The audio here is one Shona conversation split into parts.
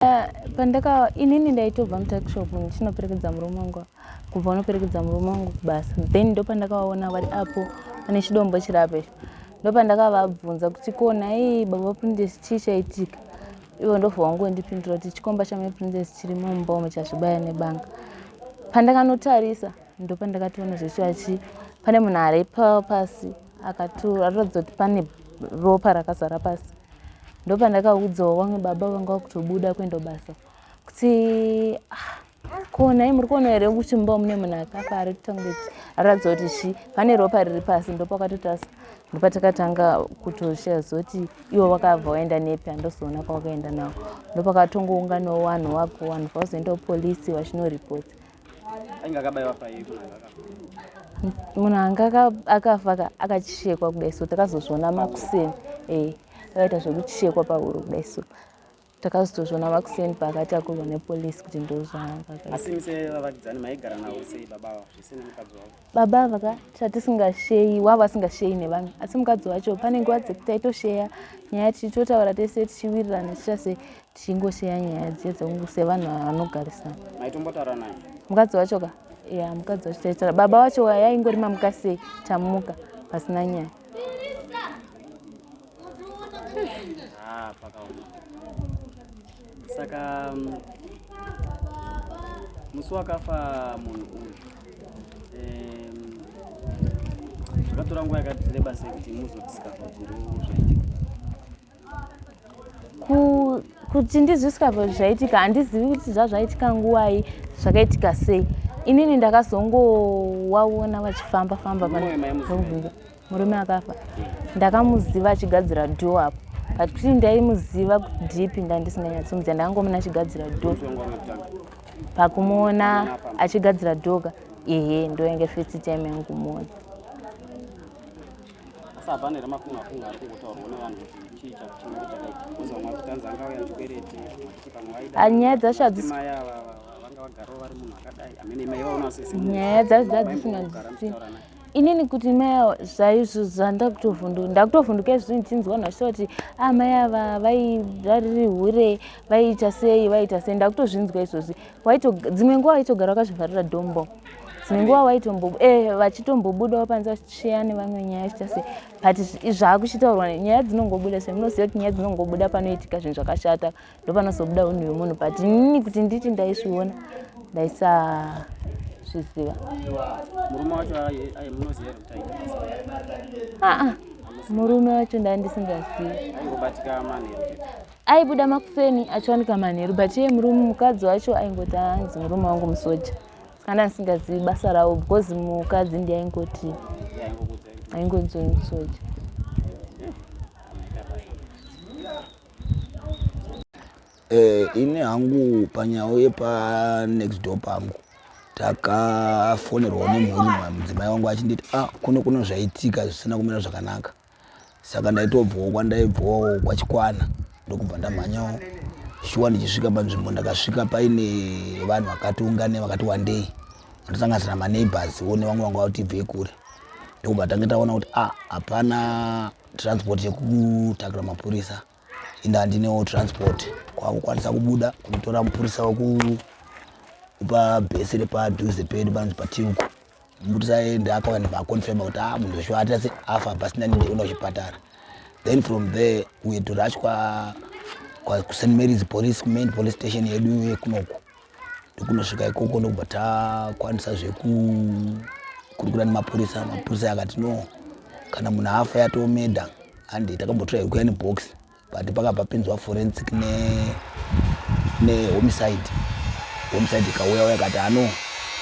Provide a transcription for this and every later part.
Eh, pandaka inini ndaitobva mutakishop ndichinoperekedza murume wangu kubva unoperekedza murume wangu kubasa then ndopandakavaona vari apo pane chidombo chirape ndopandakavabvunza kuti ko nhai baba princess chii chaitika ivo ndobva wangondipindura kuti chikomba chamai princess chiri mumba umo chazvibaya nebanga pandakanotarisa ndopandakatoona zvechiva chii pane munhu aripa pasi pa, akatura ratidza kuti pane ropa rakazara pasi ndopandakaudzawo vamwe baba vanga vakutobuda kuenda basa kuti ah, ko nhai muri kuona here kuti mumba mune munhu akafa ari kutanga kuti aratidza kuti zvi pane ropa riri pasi ndopakatotasa ndopatakatanga kutoshiya zoti iwo vakabva waenda nepi handozoona kwawakaenda nawo ndopakatongounganawo vanhu wako vanhu vazoendawo polisi vachinoripota ainge akabaiwa paiko munhu anga akafa akachekwa kudai so takazozviona makuseni e eh, akaita zvekuchekwa pahuro kudai so takazotozviona makuseni paakatakurwa nepolisi kuti ndozvaakaasimse vavakidzani maigara navo sei baba avo zvisina mukadzi wavo baba ava ka chatisingasheyi wavo asingasheyi nevanhu asi mukadzi wacho pane nguva dzekuti taitosheya nyaya tichitotaura tese tichiwirirana tichiita se tichingosheya nyaya dziye dzekungu sevanhu vanogarisana maitombotaura naye mukadzi wacho ka ya mukadzi wacho taitaura baba wacho yaingori mamuka sei tamuka pasina nyaya Ah, pakaoma saka mm, musi wakafa munhu uyu em, zvakatora nguva yakati reba sei kuti muzodiscover kuti ndoo zvaitika Ku- kuti ndizvisikabva kuti zvaitika handizivi kuti zvazvaitika nguvai zvakaitika sei inini ndakazongowaona vachifamba famba Mwoyo maimuzivei? murume akafa ndakamuziva achigadzira do apo but kuti ndaimuziva kutidipi ndandisinganyatsomuziva ndakangomuna achigadzira do pakumuona achigadzira doka ehe ndoenge first time yangumuona nyaya dzacho hadzisi nyaya dzacho dzadzisinganzwisisi inini kuti maya zvaizvo zvandakutovhunduka ndakutovhunduka izvozvi ndichinzwa nhasi kuti a ah, mai ava vairariri hure vaiita sei vaiita sei ndakutozvinzwa izvozvi dzimwe nguva waitogara wakazvivharira dombo dzimwe nguva waitombo e eh, vachitombobudawo panze vachisheya nevamwe nyaya chiita sei but zvaakuchitaurwa nyaya dzinongobuda se munoziva kuti nyaya dzinongobuda panoitika zvinhu zvakashata ndopanozobuda unhu hwemunhu but nini kuti nditi ndaizviona ndaisazviziva aa murume wacho ndaa ndisingazivi aibuda makuseni achiwanika manheru but iye murume mukadzi wacho aingoti anzi murume wangu musoja kana ndisingazivi basa ravo because mukadzi ndi aingoti aingonzoi musoja Eh, ini hangu panyawo yepanext door pangu takafonerwawo nemhuri mudzimai wangu achinditi a ah, kuno kuno zvaitika zvisina kumira zvakanaka saka ndaitobvawo kwandaibvawo kwachikwana ndokubva ndamhanyawo shuwa ndichisvika panzvimbo ndakasvika paine vanhu vakati ungane vakati wandei ndosanganisira maneighbors wo nevamwe vanga vatibvei kure ndokubva tange taona kuti a ah, hapana transport yekutaura mapurisa ende handinewo transport kwakukwanisa kubuda kunotora mupurisa wekupa bhesi repadhuze pedu panonzi patiuku mupurisa ende akauya nevaconfirma kuti a ah, munhu weshuwa atase afa pasina ndiona kuchipatara then from there uye torashwa kusaint marys police main police station yedu yekunoku ndokunosvika ikoko ndokubva takwanisa zvekukurukura nemapurisa mapurisa akati no kana munhu afa yatomeda handi takambotora yekuya nebox but pakabva pinzwa forensic nehomicide ne homicide ikauya uya kati ano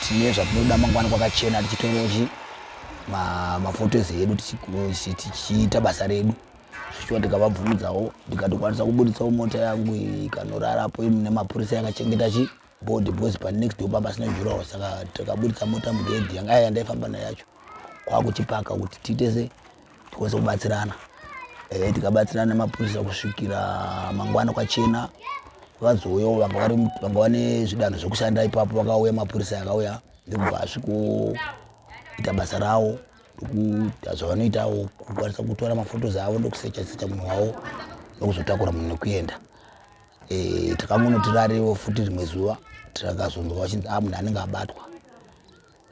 tine zvatinoda mangwana kwakachena tichitorochi mafotos ma edu tichiita basa redu shuwa ndikavabvumidzawo ndikatokwanisa kuburitsawo mota yangu ikanorarapo mune mapurisa yakachengeta chi body because pa next door pamba sina jurawo saka takaburitsa mota mugedhi yanga yaya ndaifamba nayo yacho kwakuchipaka kuti tiitese tikwanise kubatsirana e, tikabatsirana nemapurisa kusvikira mangwana kwachena vazouyawo vanga vane zvidanho zvekushanda ipapo vakauya mapurisa yakauya ndikubva asvikoita basa rawo ndokuita zvavanoitawo kukwanisa kutora mafotos avo ndokusecha secha munhu wavo ndokuzotakura munhu nekuenda eh, takangonotirariwo futi rimwe zuva takazonzwa vachinzi a ah, munhu anenge abatwa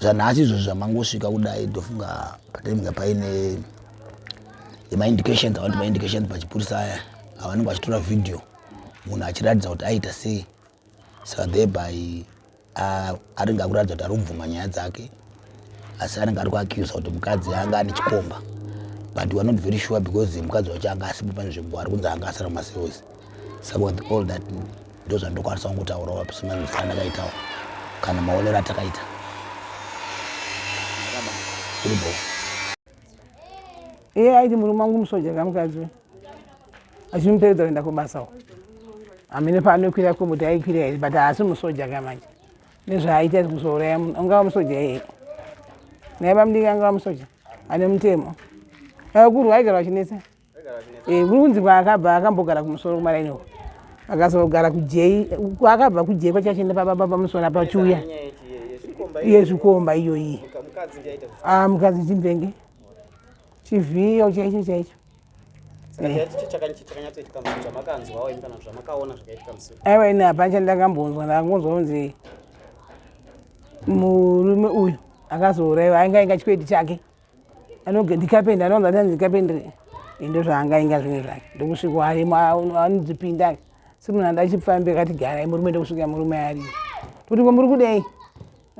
zvanhasi izvozvo zvamangosvika kudai ndofunga patinenge paine yemaindications avanoti maindications pachipurisa aya avanenge vachitora vhidhiyo munhu achiratidza kuti aita sei so thereby anenge akuratidza kuti ari kubvuma nyaya dzake asi anenge ari kuacusa kuti mukadzi anga ane chikomba but weare not very sure because mukadzi wacho anga asipo pane zvekuva ari kunzi anga asara maseos saka with all that ndo zvandokwanisa kungotaura wapi semanzisa andakaitawo kana maonero atakaita iribo iye aiti murume wangu musoja kamukadzi achimuperedza kuenda kubasa uko hamene paanokwira komuti aikwira here but haasi musoja ka manje nezvaaita kuzouraya munhu angava musoja here naye bamudiki angava musoja ane mutemo vakuru vaigara vachinetsa eh, kuri kunzi kwaakabva akambogara kumusoro kumaraini uko akazogara kujei kwaakabva kujei kwachachienda pababa pamusoro apa chiuya yezvikomba iyoyi mukadzi ah, chimvenge chivhiyo chaicho chaicho aiwa ini hapana chandakambonzwa ndakangonzwa kunzi murume uyu akazouraiwa ainge ainga chikwedi chake anoge ndikapenda anonzi ati ndikapendere ndo zvaanga inga zvinhu zvake ndokusviko arimo anodzipinda simunhu anda chipfambi akati garai murume ndokusvika murume ari toti ko muri kudei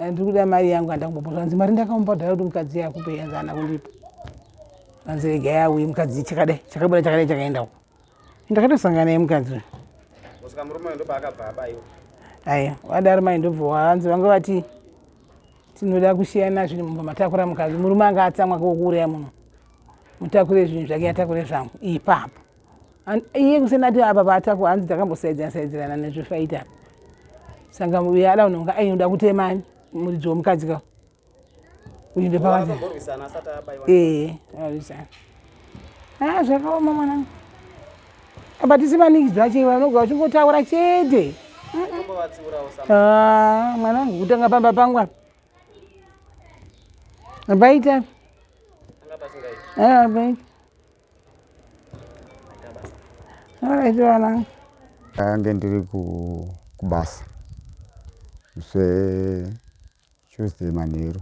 Eh, ndiri kuda mari yangu andangombo zvanzi mari ndakamupa kudhara kuti mukadzi iye akupe yanzi ana kundipa zvanzi rega yauye mukadzi chakadai chakabuda chakadai chakaenda uko ndakatosangana naye mukadzi uyu kusvika murume uyu ndopaakabva abaiwa aya wadaro mai ndobva wanzi vanga vati tinoda kusiyana zvinhu mumba matakura mukadzi murume anga atsamwa kokuuraya munhu mutakure zvinhu zvake atakure zvangu ipapo iye kusena ati apa paatako hanzi takambosaidzana saidzirana nezvefaita apa sanga uye ada unonga ainoda kutemani muridzi womukadzi ka uyu ndepakati ee arisana a zvakaoma mwanangu apa tisi manikidzwa chei vanoga uchingotaura chete ah, mwanangu kutanga pamba pangu apa apaita apaita Mwarechiwana. Ange ndiri kubasa zve Tuesday manheru.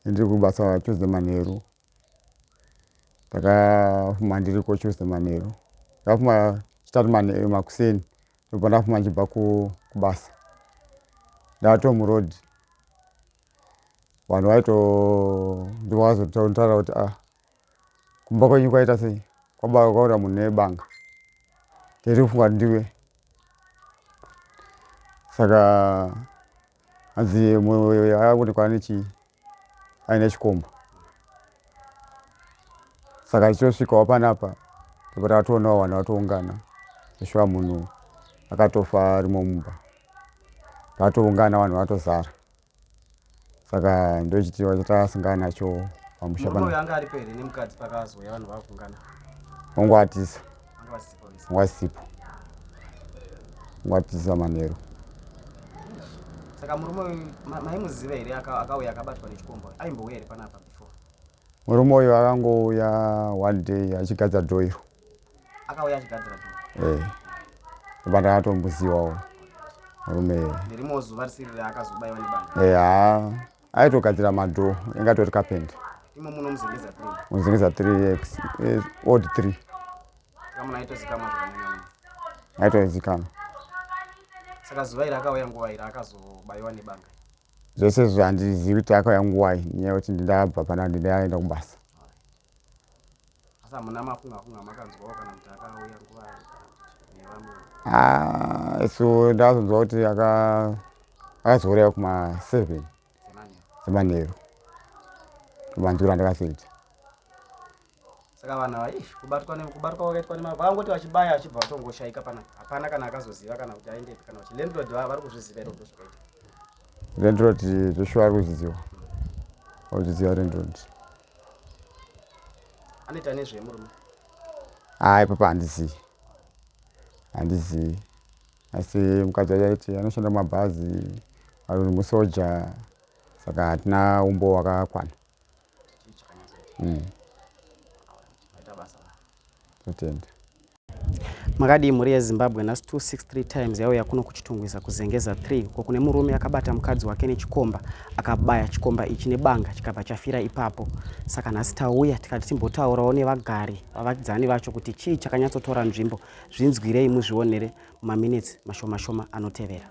Ndiri kubasa Tuesday manheru. Ndakafuma ndiri ko Tuesday manheru. Ndakafuma chitatu manheru makuseni. Ndobva ndafuma ndichibva kubasa. Ndato muroad. Vanhu vaito ndivakazotaura kuti ah kumba kwenyu kwaita sei kwababa kwaura munhu nebanga tairi kufunga kuti ndiwe saka hanzi akuonekwa ane chii aine chikomba saka tichosvikawo panapa tobva takatoonawo vanhu vatoungana ishuwa munhu akatofa arimo mumba vatoungana vanhu vatozara saka ndochitiwa chataasingana nacho pamusha pano anga aripo here nemukadzi pakazouya vanhu vakungana wangu atisa wasipo watisa manheru saka murume maimuziva here akauya akabatwa nechikombo aimbouya here panapa before Murume uyu akangouya one day achigadza door iro. Akauya achigadzira door. Eh. But akatombuziwawo. Murume. Nerimo zuva risiri raakazobaiwa nebanga. Eh, ah. Aitogadzira madoor inga tori carpenter. Imo muno muzengeza 3. Muzengeza 3 x eh, odd 3. Kama naito zikama zvakanyanyo. Naito zikama. Saka zuva iri akauya nguva iri akazobaiwa nebanga. zvese izvi handizivi kuti akauya nguvai nyaya yekuti ndindabva pana ndindaenda kubasa ah, isu ndakazonzwa kuti akazouraya kuma seven semanheru kumanzura ndakazoita saka vanhu ava ish kubatwa kubatwa kwakaitwa nemava vakangoti vachibaya vachibva vatongoshaika pana hapana kana akazoziva kana kuti aende kana kuti landlord vava vari kuzviziva iro ndo zvakaita landlord zveshuwa ari kuzviziva auchiziva landlord anoita nezvei murume haa ipapa handizivi handizivi asi mukadzi wacho aiti anoshanda mumabhazi ari musoja saka hatina umbo wakakwana mm. Atende. makadii mhuri yezimbabwe nhasi 263 times yauya kuno kuchitungwiza kuzengeza 3 uko kune murume akabata mukadzi wake nechikomba akabaya chikomba ichi nebanga chikabva chafira ipapo saka nhasi tauya tikati timbotaurawo nevagari vavakidzani vacho kuti chii chakanyatsotora nzvimbo zvinzwirei muzvionere mumaminitsi mashomashoma anotevera